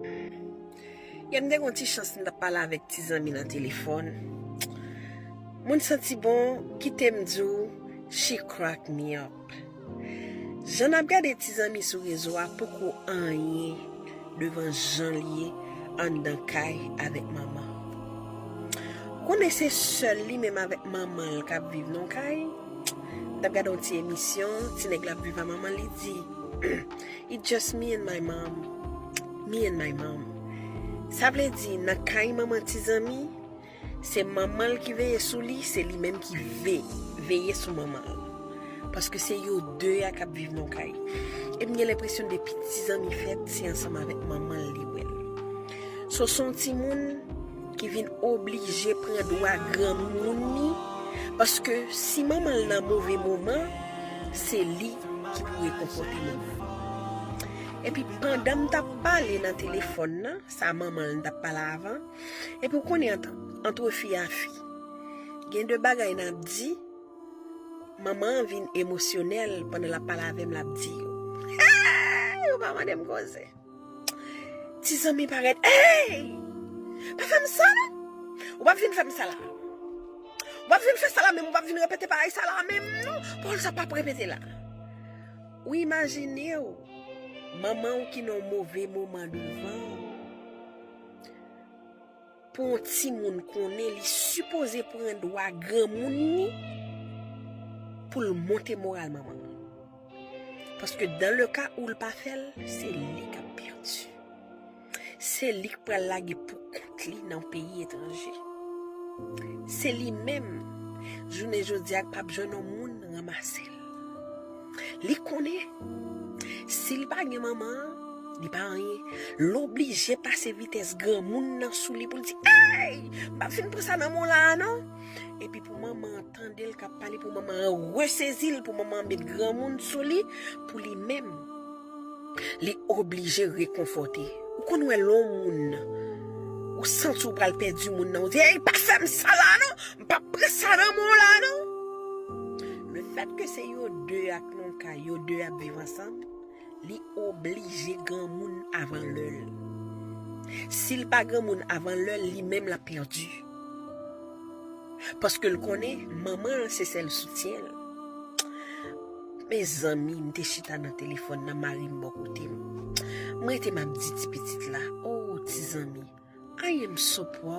Yè m te gen yon ti chans m tap pale avèk ti zanmi nan telefòn Moun santi bon kite m di w she crack me up Jan nap gade ti zanmi sou rezo a poko anyen devan jan l ye anndan kay avèk manman Ou konnen se sèl li menm avèk manman l kap viv nan yon kay M tap gade yon ti emisyon ti nèg la ap viv a manman l li di It just me and my mom Me and my mom Sa vle di nan kay manman ti zanmi Se manman l ki veye sou li Se li menm ki veye sou manman l Paske se yo 2 a k ap viv nan yon kay E m gen lenpresyon depi ti zanmi fèt Se ansanm avèk manman l li wè l So s on timoun ki vin oblije pran dwa granmoun ni paske si manman l nan move moman se li ki pou rekonfòte manman l epi pandan m tap pale nan telefòn nan sa manman l tap pale avan epi w konnen antre fi a fi gen de bagay nap di manman an vin emosyonèl pandan lap pale avè m lap di yo eeeee yo pa mande m koze. Ti zanmi parèt Hey! Pa fè m sa non! Ou pa vin fè m sa la Ou pa vin fè sa la menm Ou pa vin repete bagay sa la menm non Pawòl sa pa pou repete la Ou imajine w Manman w ki nan yon move moman devan w Pou yon timoun konnen li sipoze pran dwa granmoun ni pou l monte moral manman l. Paske dan le ka ou l pa fè l, se li k ap pèdi. Se li k pral lage pou kont li nan peyi etranje. Se li menm, jounen jodi a k pap jwenn yon moun ranmase l. Li konnen, si li pa gen manman an, li pa anyen. L oblije pase vitès granmoun nan sou li pou l di, Ey! M pa fin pran sa nan men w la a non! Epi pou manman an tande l k ap pale, pou manman an resezi l, pou manman an met granmoun sou li, pou li menm, li oblije rekonfòte. Ou konn wè lè yon moun, ou santi ou pral pèdi moun nan, ou di, Ey! Pa fè m sa la a non! M pa pran sa nan men w la a non. Le fèt ke se yo 2 a k nan kay, yo 2 ap viv ansanm, li oblije granmoun avan lè l. Si l pa granmoun avan lè l, li menm l ap pèdi. Paske l konnen manman an se sèl soutyen l. Mezanmi, m te chita nan telefòn nan, mari m bò kote m. M rete m ap di ti pitit la, O ti zanmi, anyen m sou pou w.